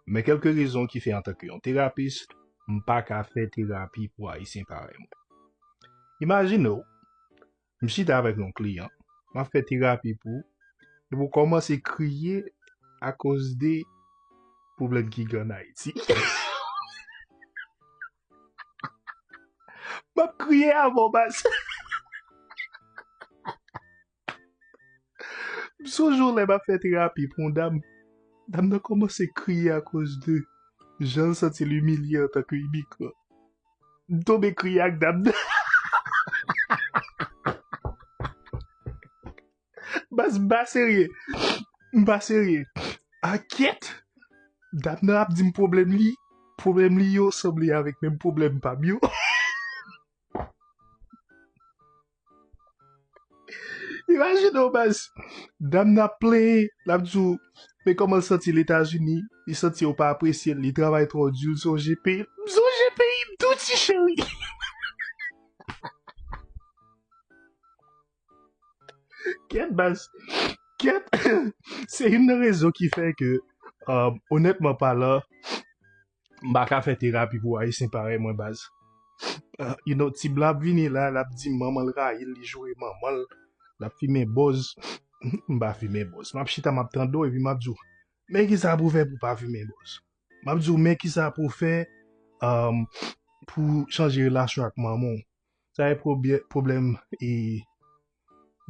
Men kelke rezon ki fè antanke yon terapist, m pa ka fè terapi pou Ayisyen parèy mwen. Imajine w, m chita avèk yon kliyan, m ap fè terapi pou, epi w kòmanse kriye akozde pwoblèm ki gen ann Ayiti. M ap kriye a vò bas. M sonje yon lè m ap fè terapi pou yon dam. Dam nan kòmanse kriye akoz de jan l santi l imilye antanke imigran. M tonbe kriye ak dam nan. Baz m pa serye. M pa serye. Ah kyèt! Dam nan ap di m pwoblèm li. Pwoblèm li yo sanble avèk menm pwoblèm pa m yo. Imajine w baz, dam nan ap plenyen, l ap di w, men kòman l santi l Etazini, li santi yo pa apresye l, li travay twò di, l sonje peyi l. M sonje peyi m tou ti cheri. Kyèt baz, kyèt. Se youn nan rezon ki fè ke, onètman palan, M pa ka fè terapi pou ayisyen parèy mwen baz. You know tib la ap vini la lap di manmanl rayil li joure manmanl lap fimen bòz m pa fimen bòz map chita map tande w epi map di w men kisa pou fè pou pa fimen bòz map di w men kisa pou fè um, pou chanje relasyon ak manman w sa e pwoblèm e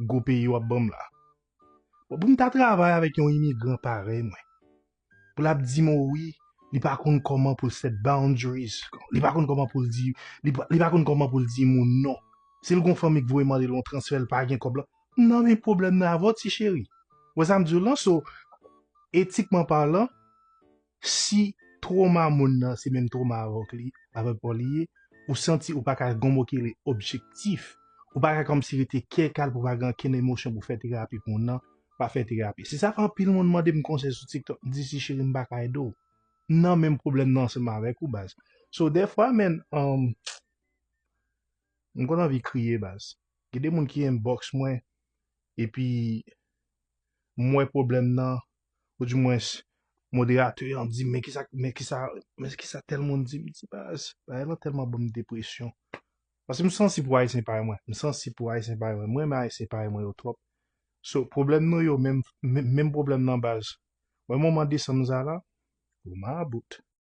gwo peyi wap banm la bon pou m ta travay avèk yon imigran parèy mwen pou lap di mo wi li pa konn koman pou l set boundaries li pa konn koman pou l di li pa konn koman pou l di moun non si l gon fanmi k voye mande l yon transfè l pa gen kob lan nan men pwoblèm nan avè w ti cheri wè sa m di w lan so etikman palan si twoma moun nan se menm twoma avè w k li avè paw li ye ou santi ou pa ka gon mo ki rele objektif ou pa ka kòmsi rete kè kal pou pa gen ankenn emosyon pou fè terapi pou moun nan pa fè terapi. Se sa anpil moun mande m konsèy sou TikTok, m di si cheri m pa ka ede w. M nan menm pwoblèm nan ansanm avèk ou baz. So dèfwa men, um, m konn anvi kriye baz. Gen de moun ki inbox mwen, epi m wè pwoblèm nan, ou di mwens moderatè an di m men kisa, men kisa, men kisa tèl moun di m, m di baz, bagay lan tèlman ban m depresyon. Paske m sansib pou ayisyen parèy mwen. M sansib pou ayisyen parèy mwen. M renmen ayisyen parèy mwen yo twòp. So, pwoblèm nou yo menm menm pwoblèm nan baz. Wè moman desanm sa la? Ou mabout.